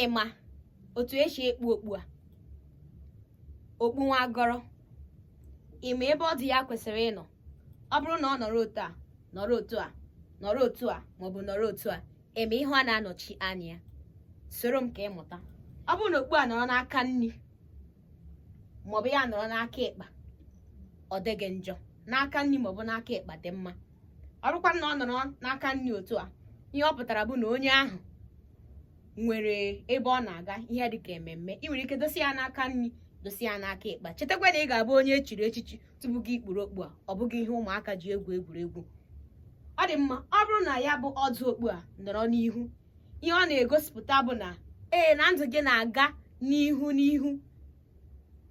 ịma otu esi ekpu okpu a okpu nwagoro ịma ebe ọdụ ya kwesịrị ịnọ ọ bụrụ na ọ nọrọ otu a nọrọ otu a nọrọ otu a maọbụ nọrọ otu a ịma ihe ọ na-anọchi anya ya soro m ka ị mụta ọ bụrụ na okpu a nọrọ n'aka nri maọbụ ya nọrọ n'aka ịkpa ọ dịghị njọ n'aka nri maọbụ n'aka ịkpa dị mma ọ bụrụkwa na ọ nọrọ n'aka nri otu a ihe ọ pụtara bụ na onye ahụ nwere ebe ọ na-aga ihe dịka ememme ị nwere ike dosa ya n'aka nri dosa ya n'aka ịkpa chetakwa na ị ga-abụ onye echiri echichi tupu gị ekpuru okpu a ọ bụghị ihe ụmụaka ji egwu egwuregwu ọ dị mma ọ bụrụ na ya bụ ọdụ okpu a nọrọ n'ihu ihe ọ na-egosipụta bụ na ee na ndụ gị na-aga n'ihu n'ihu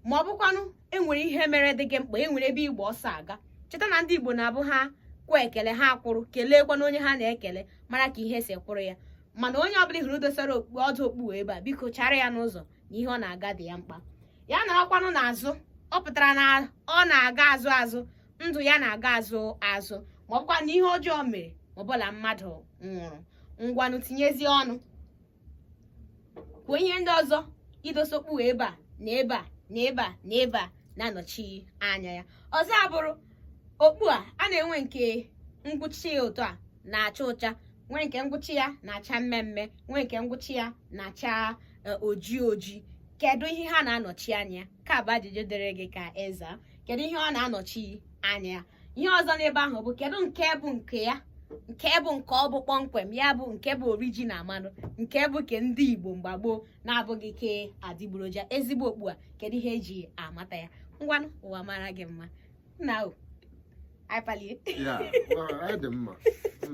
ma ọ bụkwanụ enwere ihe mere dị gị mkpa enwere ebe ị gba ọsọ aga cheta na ndị igbo na-abụ ha kwụ ekele ha kwụrụ keleekwanụ onye ha na-ekele mara ka ihe si kwụrụ ya mana onye ọbụla hụrụ dosara ọdụ okpu ebe a biko chara ya n'ụzọ na ihe ọ na-aga dị ya mkpa ya nọrọkwanụ n'azụ ọ pụtara na ọ na-aga azụ azụ ndụ ya na-aga azụ azụ ma ọ bụkwa na ihe ọjọọ mere ma ọ bụ na mmadụ nwụrụ ngwanụ tinyezie ọnụ kwuo ihe ndị ọzọ idosa okpu a ebe a na ebe a na ebe a na ebe a na-anọchi anya ya ọzọ abụrụ okpu a a na-enwe nke ngwụcha ya otu a na-acha ụcha nwee nke ngwụcha ya na-acha mmee mmee nwee nke ngwụcha ya na-acha e, oji oji kedu ihe ha na-anọchi anya ya ka bụ ajụjụ dịrị gị ka ị zaa kedu ihe ọ na-anọchi anya ihe ọzọ n'ebe ahụ bụ kedu nke bụ nke ya nke bụ nke ọ bụ kpọmkwem ya bụ nke bụ original maọbụ nke bụ ke ndị igbo mgbe gboo na-abụghị ke adịgboroja ezigbo okpu a kedu ihe eji amata ya ngwanụ ụwa mara gị mma nna o anyị palie